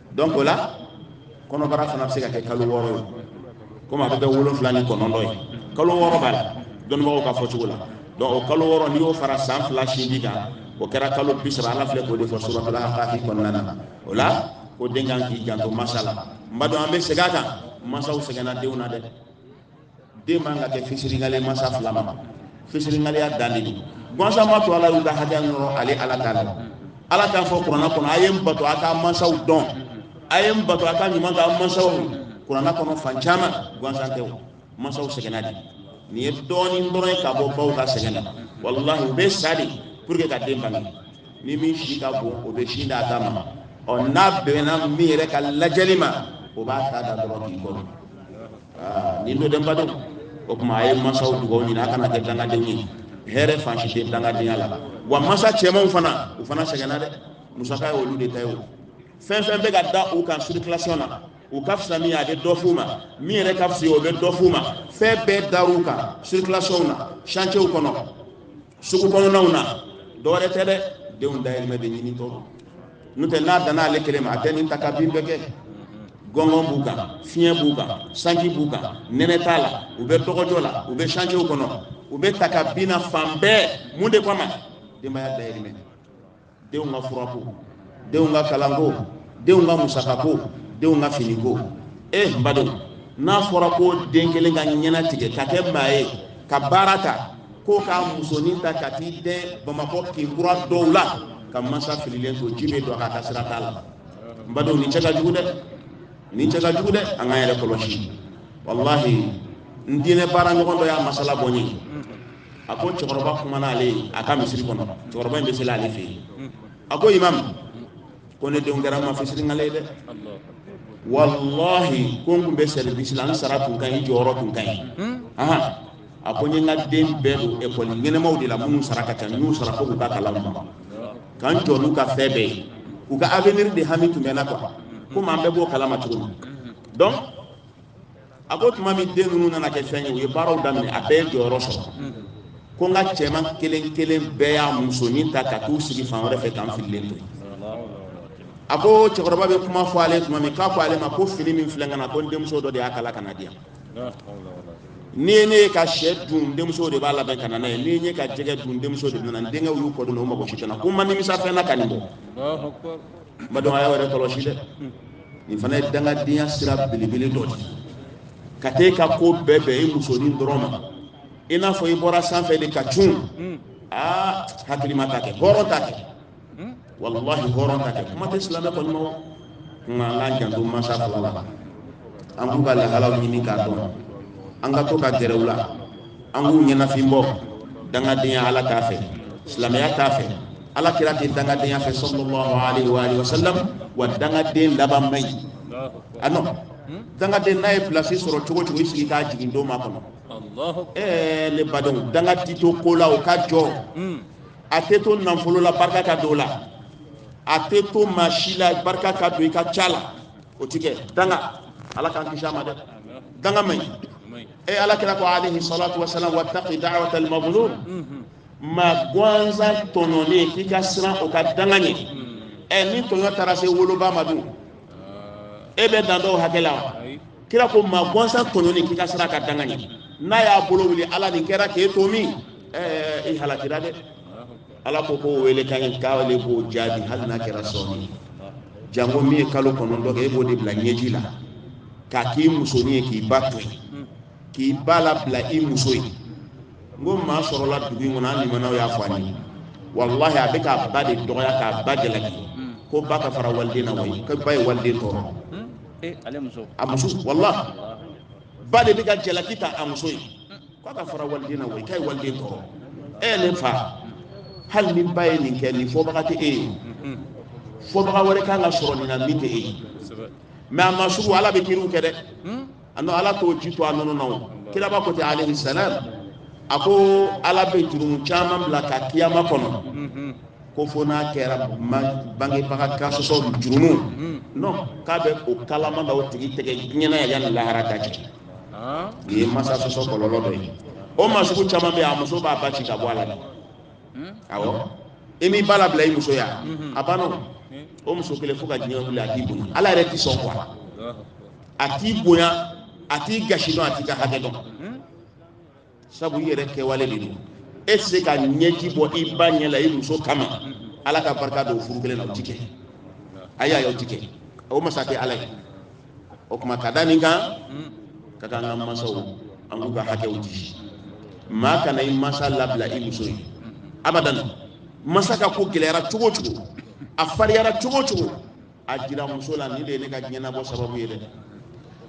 donc o la kɔnɔbara fana bɛ se ka kɛ kalo wɔɔrɔ ye komi a bɛ kɛ wolonfila ni kɔnɔntɔn ye kalo wɔɔrɔ b'a la dɔnnibagaw ka fɔcogo la donc o kalo wɔɔrɔ n'i y'o fara san fila sindi kan o kɛra kalo bi saba ala filɛ k'o de fɔ suratal ahqafi kɔnɔna na o la ko den kan k'i janto masa la n baden an bɛ segin a kan masaw sɛgɛnna denw na dɛ den man ka kɛ fisiriwale mansa fila ma fisiriwaleya dan de don gansan m'a to ala y'u ka hakɛ nɔrɔ ale ala ta la ala t'a fɔ kuranna kɔnɔ a ye n bato a ka mansaw dɔn a ye n bato a ka ɲuman kɛ mansaw kuranna kɔnɔ fan caman gansan tɛ o mansaw sɛgɛnna de nin ye dɔɔnin dɔrɔn ye ka bɔ baw ka sɛgɛn na walahi u bɛ sa de pour que ka den bange ni min si ka bon o bɛ si d'a ta ma ɔ n'a bɛnna min yɛrɛ ka lajɛli ma o b'a ta da dɔrɔn k'i kɔnɔ ni dɔ denba don o tuma a ye mansaw dugawu ɲini a kana kɛ dangadenw ye hɛrɛ fan si tɛ dangadenya la wa mansa cɛmanw fana u fana sɛgɛnna dɛ musaka ye olu de ta ye o fɛn fɛn bɛ ka da u kan sirikilasiyɔn na u ka fisa min ye a bɛ dɔ f'u ma min yɛrɛ ka fisa o bɛ dɔ f'u ma fɛn bɛɛ dar'u kan sirikilasiyɔnw na santiyew kɔnɔ sugu kɔnɔnaw na dɔwɛrɛ tɛ dɛ denw dayirimɛ de ɲinitɔ n'o tɛ n'a danna ale kelen ma a tɛ nin ta ka bin bɛɛ kɛ gɔngɔn b'u kan fiɲɛ b'u kan sanji b'u kan nɛnɛ t'a la u bɛ dɔgɔjɔ la u bɛ santiyew kɔnɔ u bɛ ta ka bin na fan bɛɛ mun de kama denbaya dayirimɛ denw ka furako denw ka kalanko denw ka musakako denw ka finiko e eh, n badenw n'a fɔra ko den kelen ka ɲɛnatigɛ ka kɛ maa ye ka baara ta ko k'a musonin ta ka t'i dɛn bamakɔ kin kura dɔw la ka mansa fililen to ji bɛ don a ka sira t'a la n badenw nin cɛ ka jugu dɛ nin cɛ ka jugu dɛ an k'an yɛrɛ kɔlɔsi walahi n diinɛ baaraɲɔgɔn dɔ y'a masala bɔ n ye a ko cɛkɔrɔba kumana ale ye a ka misiri kɔnɔ cɛkɔrɔba in bɛ seli ale fɛ yen a ko imam ko ne denw kɛra maa fisiriwale ye dɛ walahi ko n tun bɛ sɛribisi la n sara tun ka ɲi jɔyɔrɔ tun ka ɲi a ko n ye n ka den bɛɛ don ekɔli ɲɛnamaw de la minnu sara ka ca n y'u sara fo k'u ka kalan laban ka n jɔ n'u ka fɛn bɛɛ ye u ka avenir de hami tun bɛ n na quoi komi an bɛɛ b'o kalama cogo min donc a ko tuma min den ninnu nana kɛ fɛn ye u ye baaraw daminɛ a bɛɛ ye jɔyɔrɔ sɔrɔ ko n ka cɛman kelen kelen bɛɛ y'a musonin ta ka t'u sigi fan wɛrɛ fɛ k'an fililen to yen a ko cɛkɔrɔba bɛ kuma fɔ ale tuma min k'a fɔ ale ma ko fini min filɛ n kan na ko n denmuso dɔ de y'a kala ka na di yan n'i ye ne ye ka syɛ dun n denmuso de b'a labɛn ka na n'a ye n'i ye n ye ka jɛgɛ dun n denmuso de bɛ na n denkɛw y'u kɔ don u mago si tɛ n na ko n ma nimisa fɛn na ka nin bɔ n badenw a y'aw yɛrɛ kɔlɔsi dɛ nin fana ye dangadenya sira belebele dɔ de ka t'e ka ko bɛɛ bɛn i musonin dɔrɔn ma i n'a fɔ i bɔra sanfɛ de ka cun aa hakilima t'a kɛ hɔrɔn t'a kɛ walahi hɔrɔn t'a kɛ kuma tɛ silamɛ kɔni ma o kama an k'an janto mansa fila la an k'u ka lahalaw ɲini k'a dɔn an ka to ka gɛrɛ u la an k'u ɲɛnafin bɔ dangadenya ala t'a fɛ silamɛya t'a fɛ ala kira tɛ dangadenya fɛ sallallahu alaihi wa alihi wasallam wa dangaden laban man ɲi ano dangaden n'a ye pilasi sɔrɔ cogo cogo i sigi k'a jigin don makɔnɔ ɛɛ ne badenw danga ti to ko la o ka jɔ hmm. a tɛ to nafolo la barika ka don o la a tɛ to maa si la barika ka don i ka ca la o ti kɛ danga ala k'an kisi a ma dɛ danga man ɲi e ala kira ko alaihi salatu wasalam wattaqi da'wata al-mazlum maa gansan tɔɲɔlen k'i ka siran o ka danga ɲɛ ɛ ni tɔɲɔ taara se wolobaa ma dun e bɛ dan dɔn o hakɛ la wa kira ko maa gansan tɔɲɔlen k'i ka siran ka danga ɲɛ n'a y'a bolo wuli ala nin kɛra k'e to min ɛɛ i halakira dɛ ala ko k'o welekan in k'ale b'o jaabi hali n'a kɛra sɔɔni janko min ye kalo kɔnɔntɔn kɛ e b'o de bila ɲɛji la k'a k'i musonin ye k'i ba to yen k'i ba labila i muso ye n ko maa sɔrɔla dugu in kɔnɔ an limanaw y'a fɔ an ye walahi a bɛ k'a ba de dɔgɔya k'a ba jalaki ko ba ka fara waliden na wayi ko ba ye waliden tɔɔrɔ a muso walahi ba de bɛ ka jalaki ta a muso ye ko a ka fara waliden na wayi k'a ye waliden tɔɔrɔ e ne fa hali ni ba ye nin kɛ nin fɔbaga tɛ e ye fɔbaga wɛrɛ kan ka sɔrɔ nin na min tɛ e ye mɛ a masugu ala bɛ kiri kɛ dɛ ano ala t'o ji to a nɔnɔ na o kiraba ko di alayhi salam a ko ala bɛ jurumu caman bila ka kiyama kɔnɔ mhm. ko fo n'a kɛra bangebaga kansɔsɔ jurumu mhm. non k'a bɛ o kalaman da o tigi tɛgɛ diɲɛ na yan yanni lahara ka jigin ah. nin ye masa sɔsɔ kɔlɔlɔ dɔ ye o masugu caman bɛ yen a muso b'a ba ci ka bɔ a la dɛ hmm? awɔ i m'i ba labila i muso ye mhm. a banna o muso kelen fo ka diɲɛ wuli a t'i bonya ala yɛrɛ ti sɔn kuwa a t'i bonya a t'i gasi dɔn a t'i ka hakɛ dɔn sabu i yɛrɛ kɛwale de don e tɛ se ka ɲɛji bɔ i ba ɲɛ la i muso kama ala ka barika don furu kelen na o ti kɛ ayi ayi o ti kɛ o masa tɛ ala ye o tuma ka da nin kan ka kan an ka mansaw an k'u ka hakɛw di maa kana i mansa labila i muso ye abadan masa ka ko gɛlɛyara cogo o cogo a fariyara cogo o cogo a jira muso la nin de ye ne ka diɲɛnabɔ sababu ye dɛ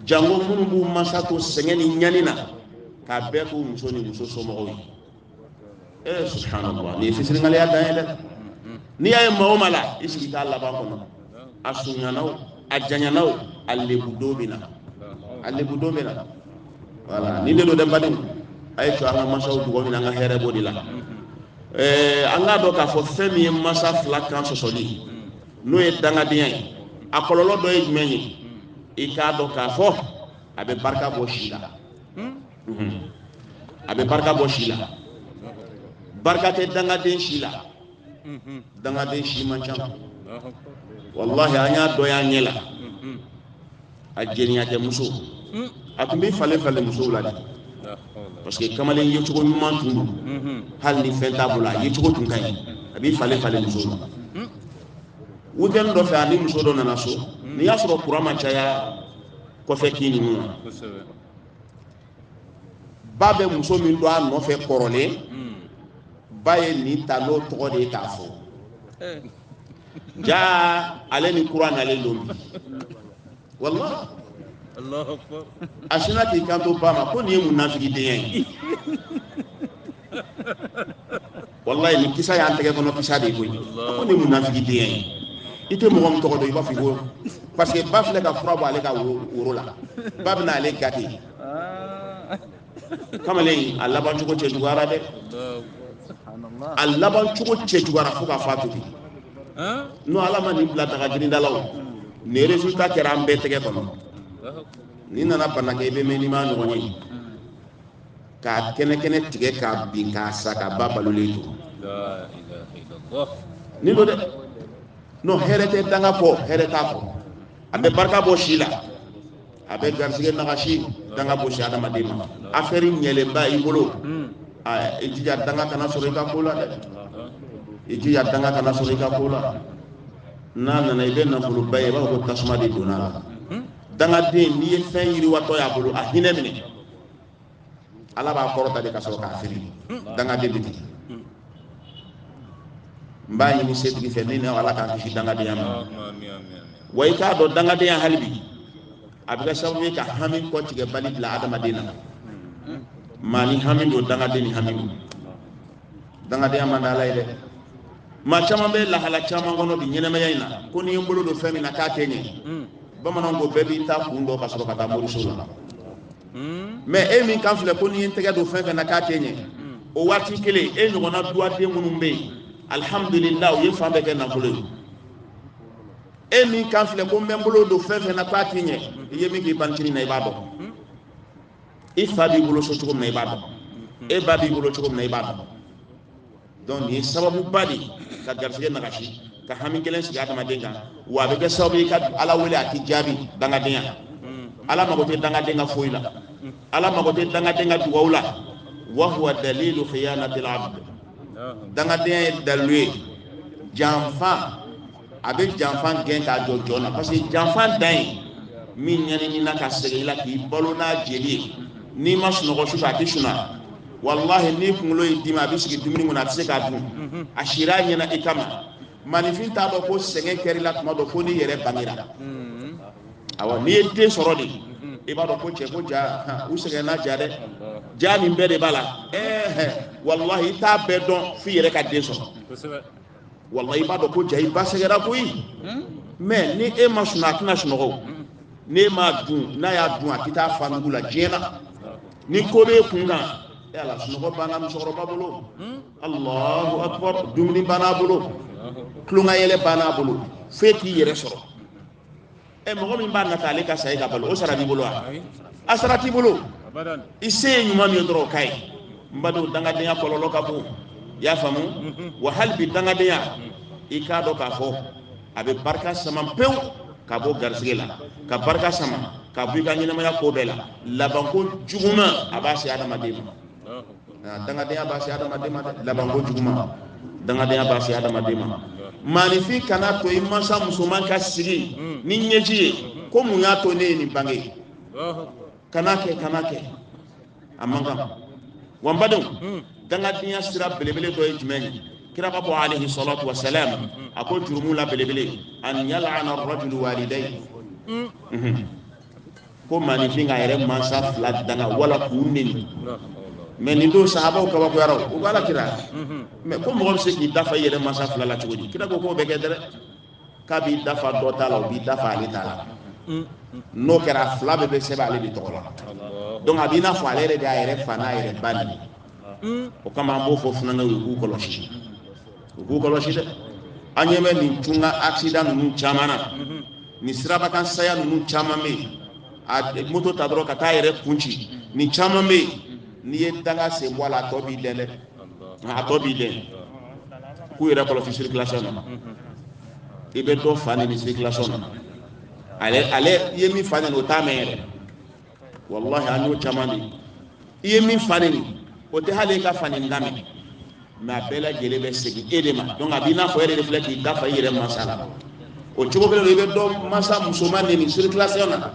jango minnu b'u mansa to sɛgɛn ni ɲani na k'a bɛɛ k'u muso ni muso somɔgɔw ye ee subhanallah nin ye fitiriwaleya dan ye dɛ n'i y'a ye maa o maa la i sigi t'a laban kɔnɔ a surunyana o a janyana o a lebudon bɛ na a lebudon bɛ na wala nin de don dɛ badenw a y'a to an k'an mansaw duga minɛ an ka hɛrɛ b'o de la ɛɛ an k'a dɔn k'a fɔ fɛn min ye mansa fila kan sɔsɔli n'o ye dangadenya ye a kɔlɔlɔ dɔ ye jumɛn ye i k'a dɔn k'a fɔ a bɛ barika bɔ si la a bɛ barika bɔ si la barika tɛ dangaden si la dangaden si man ca walahi an ye dɔ y'an ɲɛ la a jɛniyakɛ muso hmm. a tun b'i falen falen musow la de parce que kamalen ye cogo ɲuman tun don hmm. hali ni fɛn t'a bolo a ye cogo tun ka ɲi a b'i falen falen musow la hmm. weekend dɔ fɛ a ni muso dɔ nana so n'i y'a sɔrɔ kura ma caya kɔfɛ k'i ninnu na ba bɛ muso min dɔn a nɔfɛ kɔrɔlen ba ye nin ta n'o tɔgɔ de ye k'a fɔ eh. jaa ale ni kura nalen don bi walahi a sinna k'i kanto ba ma ko nin ye munafigi dan ye walayi nin kisa y'an tɛgɛ kɔnɔ kisa de ye koyi ko nin ye munafigi dan ye i tɛ mɔgɔ min tɔgɔ dɔn i b'a fɔ ko parce que ba filɛ ka fura bɔ ale ka woro la ba bɛna ale gate kamalen a laban cogo cɛjuguyara dɛ a laban cogo cɛjuguyara fo ka fatu bi n'o ala ma nin bila danga jiri da la o nin resultat kɛra an bɛɛ tɛgɛ kɔnɔ ni nana bana kɛ i bɛ mɛn n'i m'a ɲɔgɔn ye k'a kɛnɛ kɛnɛ tigɛ k'a bin k'a sa k'a ba balolen to nin don dɛ n'o hɛrɛ tɛ danga kɔ hɛrɛ t'a kɔ a bɛ barika bɔ si la a bɛ garisɛgɛ nagasi danga bɛ se adamaden ma affaire ɲɛlenba i bolo hmm. i jija danga kana sɔrɔ i ka ko la dɛ i jija danga kana sɔrɔ i ka ko la n'a nana i bɛ nafoloba ye i b'a fɔ ko tasuma de donna a la hmm. dangaden n'i ye fɛn yiriwatɔ y'a bolo a hinɛ minɛ ala b'a kɔrɔta de ka sɔrɔ k'a fili dangaden bɛ ten n b'a ɲini setigi fɛ min na ala k'an kisi dangadenya ma wa i k'a dɔn dangadenya hali bi a bɛ kɛ sababu ye ka hami kɔtigɛbali bila adamaden na maa ni hami don dangaden ni hami don dangadenya man di ala ye dɛ maa caman bɛ lahala caman kɔnɔ bi ɲɛnamaya in na ko ni n ye n bolo don fɛn min na k'a tɛ ɲɛ bamananw ko bɛɛ b'i ta kun dɔn ka sɔrɔ ka taa moriso la mais e min kan filɛ ko n'i ye tɛgɛ don fɛn fɛn na k'a tɛ ɲɛ o waati kelen e ɲɔgɔnna duwaden minnu bɛ yen alihamudulila u ye fan bɛɛ kɛ nafolo ye e min kan filɛ ko n bɛ n bolo don fɛn fɛn na k'a tɛ ɲɛ i ye min k'i bantini na i b'a dɔn i fa b'i bolo so cogo min na i b'a dɔn e ba b'i bolo cogo min na i b'a dɔn donc nin ye sababuba de ka garisɛgɛ nagasi ka hami gɛlɛn sigi adamaden kan wa a bɛ kɛ sababu ye ka ala wele a tɛ jaabi dangadenya ala mago tɛ dangaden ka foyi la ala mago tɛ dangaden ka dugawu la wa huwa dalilu khiyanatil abd dangadenya ye dalilu ye janfa a bɛ janfa gɛn k'a jɔ jɔn na parce que janfa dan ye min ɲɛnina ka sɛgɛn i la k'i balo n'a jeli ye n'i ma sunɔgɔ su fɛ a tɛ suna walahi n'i kunkolo y'i dimi a bɛ sigi dumuni kun na a tɛ se k'a dun mhm. a sira a ɲɛ na i kama maaninfin t'a dɔn ko sɛgɛn kɛra i la tuma dɔ fo n'i yɛrɛ bangera mhm. awa n'i ye den sɔrɔ de mhm. i b'a dɔn ko cɛ ko ja u sɛgɛnna ja dɛ ja nin bɛɛ de b'a la ɛɛ walahi i t'a bɛɛ dɔn f'i yɛrɛ ka den sɔrɔ walayi i b'a dɔn ko ja i ba sɛgɛra koyi hmm? mais ni e ma sunɔgɔ a tɛna sunɔgɔ hmm. n'e m'a dun n'a y'a dun a tɛ taa f'a nugu la diɲɛ na ni ko b'e kun kan e ala sunɔgɔ banna musokɔrɔba bolo hmm? alahu akbar dumuni banna a bolo tulonkayɛlɛ banna a bolo f'e k'i yɛrɛ sɔrɔ ɛ mɔgɔ min b'a nata ale ka sa e ka balo o sara b'i bolo wa a sara t'i bolo i se ye ɲuman min ye dɔrɔn o k'a ye n badenw dangadenya kɔlɔlɔ ka bon i y'a faamu mhm. wa hali bi dangadenya i k'a dɔn k'a fɔ a bɛ barika sama pewu ka bɔ garisɛgɛ la ka barika sama ka bɔ i ka ɲɛnamaya ko bɛɛ la labanko juguman a b'a se adamaden ma dangadenya b'a se adamaden ma labanko juguman dangadenya b'a se adamaden ma maaninfin kana to i mansa musoman ka sigi hmm. ni ɲɛji ye hmm. ko mun y'a to ne ye nin bange kana kɛ kana kɛ a man kan wa n badenw hmm. dangadenya sira belebele dɔ ye jumɛn ye kira b'a fɔ alayhi salatu wa salam a ko jurumu la belebele an yal'ana rajulu walidayhi ko maaninfin k'a yɛrɛ mansa fila danga wala k'u neni mais nin don sahabaw kabakoyara u b'a la kira mais ko mɔgɔ bɛ se k'i dafa i yɛrɛ mansa fila la cogo di kira ko k'o bɛ kɛ dɛ k'a b'i dafa dɔ ta la o b'i dafa ale ta la n'o kɛra a fila bɛɛ bɛ sɛbɛn ale de tɔgɔ la donc a b'i n'a fɔ ale yɛrɛ de y'a yɛrɛ fa n'a yɛrɛ ba neni o kama an b'o fɔ funankɛw ye u k'u kɔlɔsi u k'u kɔlɔsi dɛ an ɲɛ bɛ nin cogo accident ninnu caman na nin siraba kan saya ninnu caman bɛ yen a moto ta dɔrɔn ka taa a yɛrɛ kun ci nin caman bɛ yen n'i ye danga sen bɔ a la a tɔ b'i dɛn dɛ a tɔ b'i dɛn k'u yɛrɛ kɔlɔsi circulation na i bɛ dɔ fa neni circulation na ale ale i ye min fa neni o t'a mɛn yɛrɛ walahi an y'o caman de i ye min fa neni o tɛ hali e ka fa neni kan mɛn mais a bɛɛ lajɛlen bɛ segin e de ma donc a b'i n'a fɔ e de filɛ k'i dafa i yɛrɛ mansa la o cogo kelen i bɛ dɔ mansa musoman neni circulation na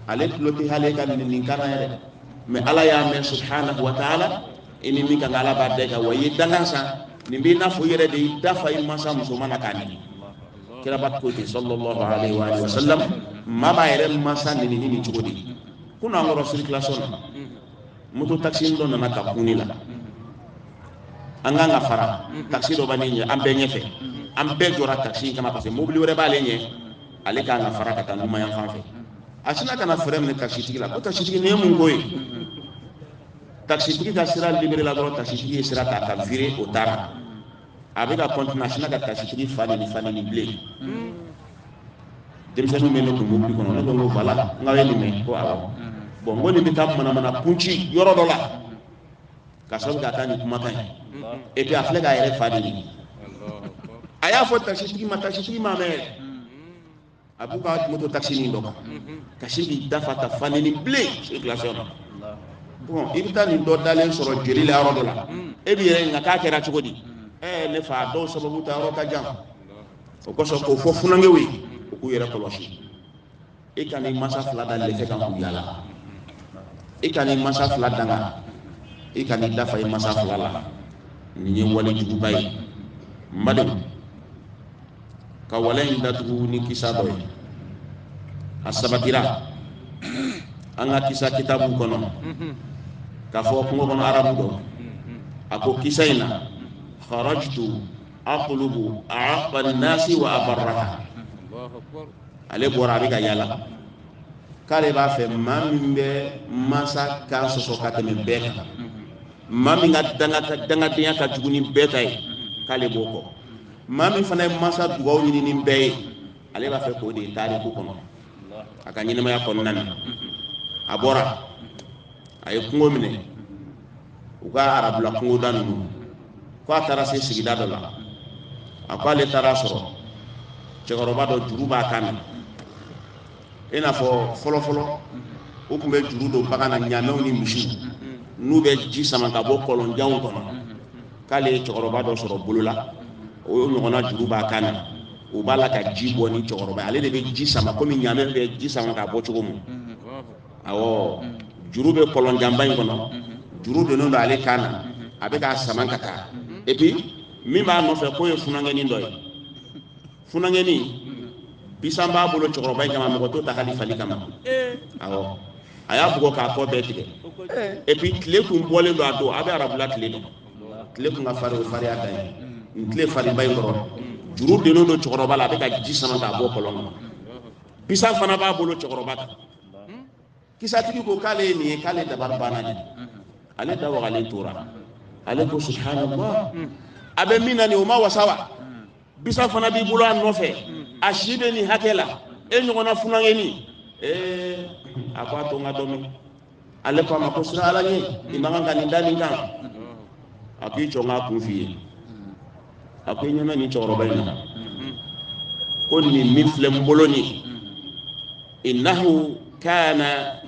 ale tulo tɛ hali e ka neni kan na yɛrɛ mais ala y'a mɛn subhanahu wa taala i ni min ka kan ala b'a da i kan wa i ye danga san nin b'i n'a fɔ i yɛrɛ de y'i dafa i mansa musoman na k'a neni kiraba ko ten sallallahu alaihi wa alihi wasallam maa b'a yɛrɛ mansa neni ni nin cogo de kunun an kɔrɔ circulation na moto taxi dɔ nana ka kun ne la an kan ka fara taxi dɔ b'an ɲɛ an bɛɛ ɲɛfɛ an bɛɛ jɔra taxi in kama parce que mobili wɛrɛ b'ale ɲɛ ale kan ka fara ka taa numanyan fan fɛ a sinna ka na frein minɛ taxi tigi la ko taxi tigi nin ye mun ko ye taxi tigi ka sira libere la dɔrɔn taxi tigi ye sira ta ka vire o taara a bɛ ka kɔntini a sinna ka tasitigi fa neni fa neni bilen denmisɛnninw bɛ ne kun mobili kɔnɔ ne ko n ko bala n k'aw ye nin mɛn ko awɔ bon n ko nin bɛ taa manamana kun ci yɔrɔ dɔ la k'a sababu kɛ a ka nin kumakan ye et puis a filɛ k'a yɛrɛ fa de neni a y'a fɔ tasitigi ma tasitigi m'a mɛn a b'u ka moto taxi nin dɔ kan ka sin k'i dafa ka fa neni bilen circulation na bon i bɛ taa nin dɔ dalen sɔrɔ joli la yɔrɔ dɔ la e b'i yɛrɛ ɲininka k'a kɛra cogo di ɛɛ ne fa dɔw sababu ta yɔrɔ ka jan o kosɔn k'o fɔ funankɛw ye u k'u yɛrɛ kɔlɔsi i kan'i mansa fila da lɛfɛ kan k'u yala i kan'i mansa fila danga i kan'i dafa i mansa fila la nin ye wale juguba ye n badenw ka wale in datugu ni kisa dɔ ye a sabatira an ka kisa kitabu kɔnɔ k'a fɔ kungo kɔnɔ arabu dɔ a ko kisa in na kharajtu atlubu a'aqqa an-nasi wa abarraha ale bɔra a bɛ ka yala k'ale b'a fɛ maa min bɛ mansa kan sɔsɔ ka tɛmɛ bɛɛ kan maa min ka dangadenya ka jugu ni bɛɛ ta ye k'ale b'o kɔ maa min fana ye mansa dugaw ɲini ni bɛɛ ye ale b'a fɛ k'o de ye taariku kɔnɔ a ka ɲɛnamaya kɔnɔna na a bɔra a ye kungo minɛ u ka arabula kungoda ninnu ko a taara se sigida dɔ la a ko ale taara a sɔrɔ cɛkɔrɔba dɔ juru b'a kan na i n'a fɔ fɔlɔfɔlɔ u tun bɛ juru don bagan na ɲaamɛw ni misiw n'u bɛ ji sama k'a bɔ kɔlɔnjanw kɔnɔ k'ale ye cɛkɔrɔba dɔ sɔrɔ bolo la o ye ɲɔgɔnna juru b'a kan na o b'a la ka ji bɔ ni cɛkɔrɔba ale de bɛ ji sama komi ɲaamɛ bɛ ji sama k'a bɔ cogo min awɔ juru bɛ kɔlɔnjanba in kɔnɔ juru donnen don ale kan na a bɛ k'a sama ka taa et puis min b'a nɔfɛ k'o ye funankɛnin dɔ ye funankɛnin bisan b'a bolo cɛkɔrɔba in kama mɔgɔ t'o ta hali fali kama awɔ a y'a bugɔ k'a kɔ bɛɛ tigɛ et puis tile kun bɔlen don a don a bɛ arabula tile dɔn tile kun ka fari o fariya dan ye nin tile farinba in kɔrɔ juru dennen don cɛkɔrɔba la a bɛ ka ji sama k'a bɔ kɔlɔn kɔnɔ bisan fana b'a bolo cɛkɔrɔba kan kisatigi ko k'ale ye nin ye k'ale dabari banna dɛ ale da wagalen tora ale ko subhanallah a bɛ min na nin o ma wasa wa bisan fana b'i bolo a nɔfɛ a si bɛ nin hakɛ la e ɲɔgɔnna funankɛnin ee a ko a to n ka dɔ min ale ko a ma ko siran ala ɲɛ i man kan ka nin da nin kan a k'i jɔ n k'a kun f'i ye a ko i ɲɛna nin cɛkɔrɔba in na ko nin min filɛ n bolo nin innahu kana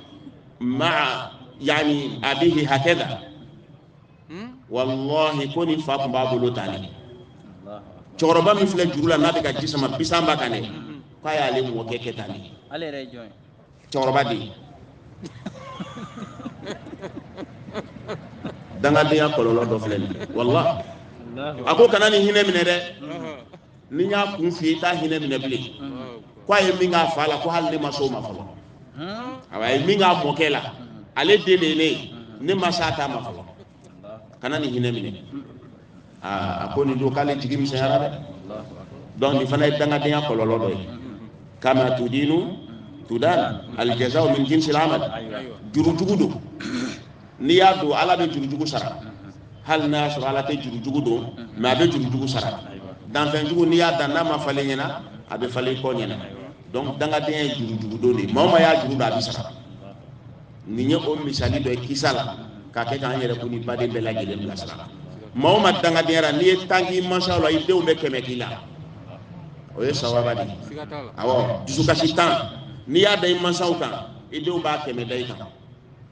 ma'a yani abihi hakada wallahi ko nin fa tun b'a bolo tan ne cɛkɔrɔba min filɛ juru la n'a bɛ ka ji sama bisan b'a kan dɛ k'a y'ale mɔkɛ kɛ tan ne cɛkɔrɔba de ye dangadenya kɔlɔlɔ dɔ filɛ nin ye wala a ko kana nin hinɛ minɛ dɛ ni n y'a kun f'i ye i t'a hinɛ minɛ bilen ko a ye min k'a fa la ko hali ne ma s'o ma fɔlɔ awa a ye min k'a mɔkɛ la ale den de ye ne ye ne ma s'a ta ma fɔlɔ kana nin hinɛ minɛ aa a ko nin don k'ale jigi misɛnyara dɛ donc nin fana ye dangadenya kɔlɔlɔ dɔ ye kama tudinu tudan aljaza'u min jinsil amal jurujugu don n'i y'a don ala bɛ jurujugu sara hali n'a y'a sɔrɔ ala tɛ jurujugu don mais a bɛ jurujugu sara danfɛnjugu n'i y'a dan n'a ma falen ɲɛna a bɛ falen kɔ ɲɛna donc dangadenya ye jurujugu don de ye maa o maa y'a juru don a bɛ sara nin ye o misali dɔ ye kisa la k'a kɛ k'an yɛrɛ kun ni baden bɛɛ lajɛlen bilasira maa o maa dangadenya la n'i ye tan k'i mansaw la i denw bɛ kɛmɛ k'i la o ye sawaba de ye awɔ dusukasi tan n'i y'a da i mansaw kan i denw b'a kɛmɛ da i kan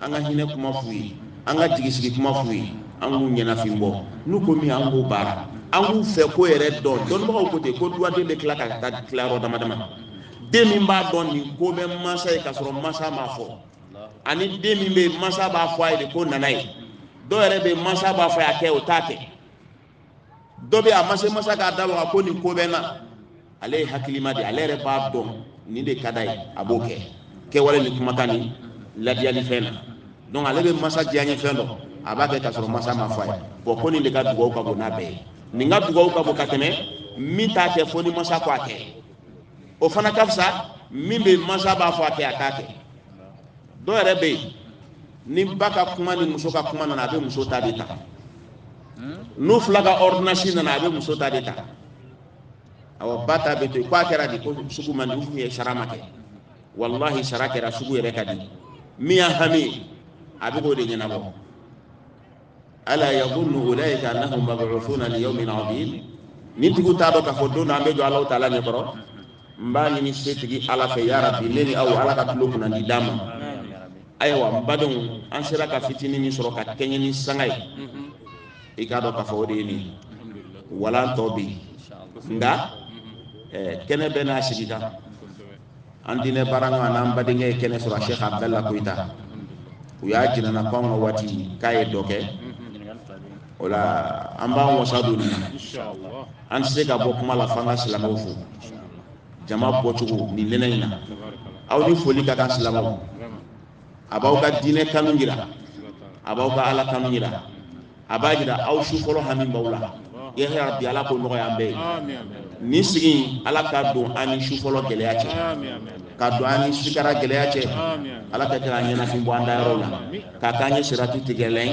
an ka hinɛ kuma f'u ye an ka jigisigi kuma f'u ye an k'u ɲɛnafin bɔ n'u ko min an k'o baara an k'u fɛ ko yɛrɛ dɔn dɔnbagaw ko ten ko duwaden bɛ tila ka taa tila yɔrɔ dama dama den min b'a dɔn nin ko bɛ mansa ye k'a sɔrɔ mansa m'a fɔ ani den min bɛ yen mansa b'a fɔ a ye de ko nana ye dɔ yɛrɛ bɛ yen mansa b'a fɔ a kɛ o t'a kɛ dɔ bɛ a ma se masa k'a da waga ko nin ko bɛ n na ale ye hakilima de ye ale yɛrɛ b'a dɔn nin de ka d'a ye a b'o kɛ kɛwale ni kumakan ni ladiyali fɛn na donc ale bɛ masa diyanye fɛn dɔn a b'a kɛ k'a sɔrɔ masa m'a fɔ a ye bɔn ko nin de ka dugawu ka bon n'a bɛɛ ye nin ka dugawu ka bon ka tɛmɛ min t'a kɛ fo ni masa ko a kɛ o fana ka fisa min bɛ masa b'a fɔ a kɛ a t'a kɛ dɔw yɛrɛ bɛ yen ni ba ka kuma ni muso ka kuma nana a bɛ muso ta de ta n'u fila ka ordonnance nana a bɛ muso ta de ta awɔ ba ta bɛ to yen k'a kɛra de ko sugu man di u tun ye sara ma kɛ walahi sara kɛra sugu yɛrɛ ka di min y'a hami ye a bɛ k'o de ɲɛnabɔ ala yadhunnu ulaika annahum mab'uthuna li yawmin 'azim nin tigiw t'a dɔn k'a fɔ don dɔ an bɛ jɔ alahu taala ɲɛ kɔrɔ n b'a ɲini setigi ala fɛ ya rabi ne ni aw ala ka tulo kunnandi d'an ma ayiwa n badenw an sera ka fitinin min sɔrɔ ka kɛɲɛ ni sanga ye i k'a dɔn k'a fɔ o de ye nin walan tɔ bɛ yen nka kɛnɛ bɛɛ n'a sigikan an diinɛ baara ɲɔgɔn n'an badenkɛ ye kɛnɛ sɔrɔ sɛk abudala koyita u y'a jira an na ko an ka waati k'a ye dɔ kɛ o la an b'an wasa don nin na an tɛ se ka bɔ kuma la f'an ka silamɛw fo jama bɔcogo nin nɛnɛ in na aw ni foli ka kan silamɛw a b'aw ka diinɛ kanu jira a b'aw ka ala kanu jira a b'a jira aw su fɔlɔ hami b'aw la ya rabbi ala k'o nɔgɔya an bɛɛ ye nin sigi ala k'a don an ni su fɔlɔ gɛlɛya cɛ k'a don an ni sikara gɛlɛya cɛ ala ka taa an ɲɛnafin bɔ an da yɔrɔ la k'a k'an ye sirati tigɛlan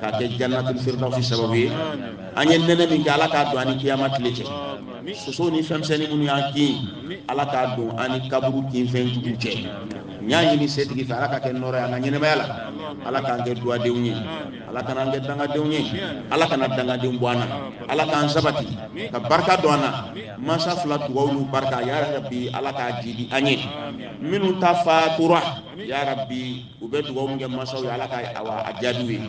k'a kɛ jannatul firdausi sababu ye an ye nɛnɛ min kɛ ala k'a don an ni kiyama tile cɛ soso ni fɛnmisɛnnin minnu y'an kin ala k'a don an ni kaburu kinfɛn jugu cɛ n y'a ɲini setigi fɛ ala k'a kɛ nɔɔrɔ ye an ka ɲɛnamaya la ala k'an kɛ duwadenw ye ala kana an kɛ dangadenw ye ala kana dangadenw bɔ an na ala k'an sabati ka barika don an na mansa fila dugaw n'u barika ya rabi ala k'a jiidi an ye minnu ta fatura ya rabi u bɛ dugaw min kɛ mansaw ye ala k'a jaabi u ye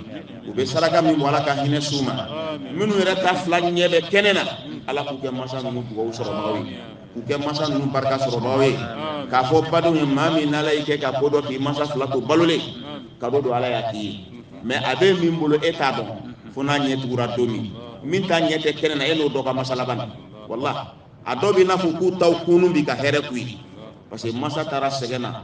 u bɛ saraka min bɔ ala k'a hinɛ s'u ma minnu yɛrɛ ta fila ɲɛ bɛ kɛnɛ na ala k'u kɛ mansa ninnu dugaw sɔrɔbagaw ye u kɛ masa ninnu barika sɔrɔbaaw ye k'a fɔ badenw ye maa min n'ala y'i kɛ ka ko dɔn k'i masa fila to balolen cadeau don ala y'a k'i ye mais a bɛ min bolo e t'a dɔn fo n'a ɲɛ tugura don min min ta ɲɛ tɛ kɛnɛ na e n'o dɔ ka masa laban na wala a dɔw b'i n'a fɔ k'u taw kunun bi ka hɛrɛ k'u ye parce que masa taara sɛgɛn na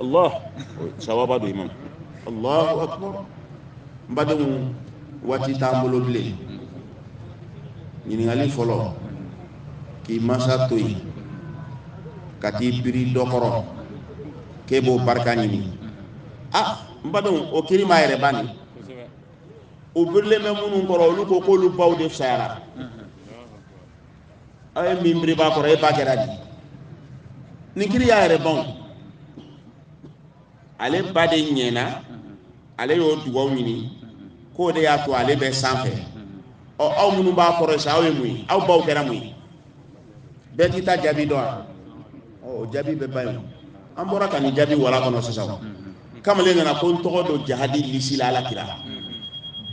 allah sawaba don imam allahu akbar n badenw waati t'an bolo bilen ɲininkali fɔlɔ k'i mansa to yen ka t'i biri dɔ kɔrɔ k'e b'o barika ɲini a n badenw o kiri ma yɛrɛ ban ni u birilen bɛ minnu kɔrɔ olu ko k'olu baw de fisayara aw ye min biri b'a kɔrɔ e ba kɛra di ni kiri y'a yɛrɛ ban ale ba de ɲɛna ale y'o dugawu ɲini k'o de y'a to ale bɛ sanfɛ ɔ aw minnu b'a kɔrɔ sa aw ye mun ye aw baw kɛra mun ye bɛɛ t'i ta jaabi dɔn wa o jaabi bɛ ban ye an bɔra ka nin jaabi wala kɔnɔ sisan kamalen nana ko n tɔgɔ don jahadi lisi la ala kira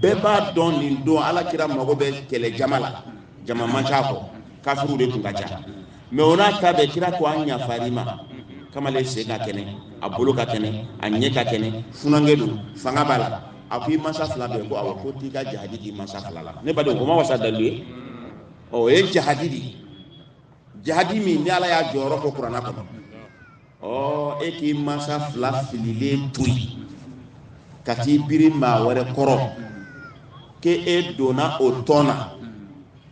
bɛɛ b'a dɔn nin don ala kira mago bɛ kɛlɛ jama la jama man ca ko kafiriw de tun ka ca mɛ o n'a ta bɛɛ kira ko an yafari ma kamalen sen ka kɛnɛ a bolo ka kɛnɛ a ɲɛ ka kɛnɛ funankɛ don fanga b'a la a ko i mansa fila bɛ ko awɔ ko t'i ka jahadi d'i mansa fila la ne badenw o ma wasa dalu ye ɔ o ye jahadi de ye jahadi min ni ala y'a jɔyɔrɔ fɔ kurana kɔnɔ ɔ e k'i mansa fila fililen to yen ka t'i biri maa wɛrɛ kɔrɔ k'e e donna o tɔn na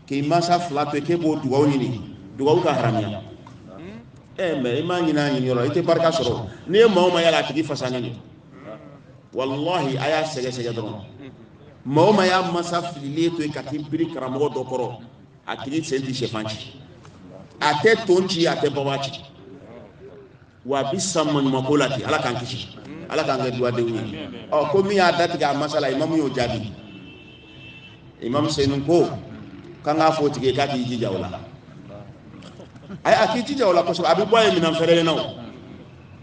k'i mansa fila to yen k'e b'o dugawu ɲini dugawu ka haramuya ɛ eh, mɛ i m'a ɲini a ɲini yɔrɔ i tɛ barika sɔrɔ n'i ye maa o maa y'a la a tigi fasalen don walahi a y'a sɛgɛsɛgɛ dɔrɔn maa o maa y'a mansa fililen to yen ka t'i biri karamɔgɔ dɔ kɔrɔ a tigi sen tɛ syɛfan ci a tɛ ton ci a tɛ baba ci wa a bɛ sa maɲumanko la ten ala k'an kisi ala k'an kɛ duwadenw ye ɔ ko min y'a datigɛ a mansa la imamu y'o jaabi imamu senu ko k'an k'a fɔ o tigi ye k'a k'i jija o la a k'i jija o la kosɛbɛ a bɛ bɔ a ye minɛn fɛrɛlen na o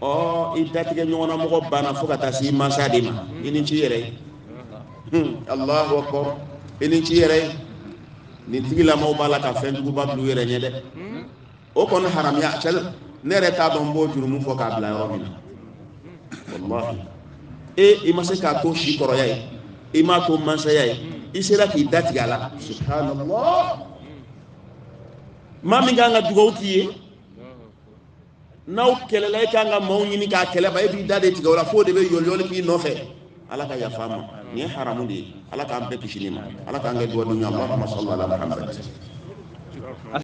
ɔ i datigɛ ɲɔgɔnna mɔgɔ banna fo ka taa se i mansa de ma i ni ci yɛrɛ ye hmm, alahu akbar i ni ci yɛrɛ ye nin tigilamaw b'a la ka fɛn juguba bila u yɛrɛ ɲɛ dɛ o kɔni haramuya cɛ ne yɛrɛ t'a dɔn n b'o jurumu fɔ k'a bila yɔrɔ min na walahi e i ma se k'a to sikɔrɔya ye i m'a to mansaya ye i sera k'i datigɛ a la subhanallah maa min kan ka dugawu k'i ye n'aw kɛlɛla e kan ka maaw ɲini ka kɛlɛ ban e b'i da de tigɛ o la f'o de bɛ yoliyoli k'i nɔfɛ ala ka yafa an ma nin ye haramu de ye ala k'an bɛɛ kisi nin ma ala k'an kɛ duwadenw ye allahumma salli ala muhammad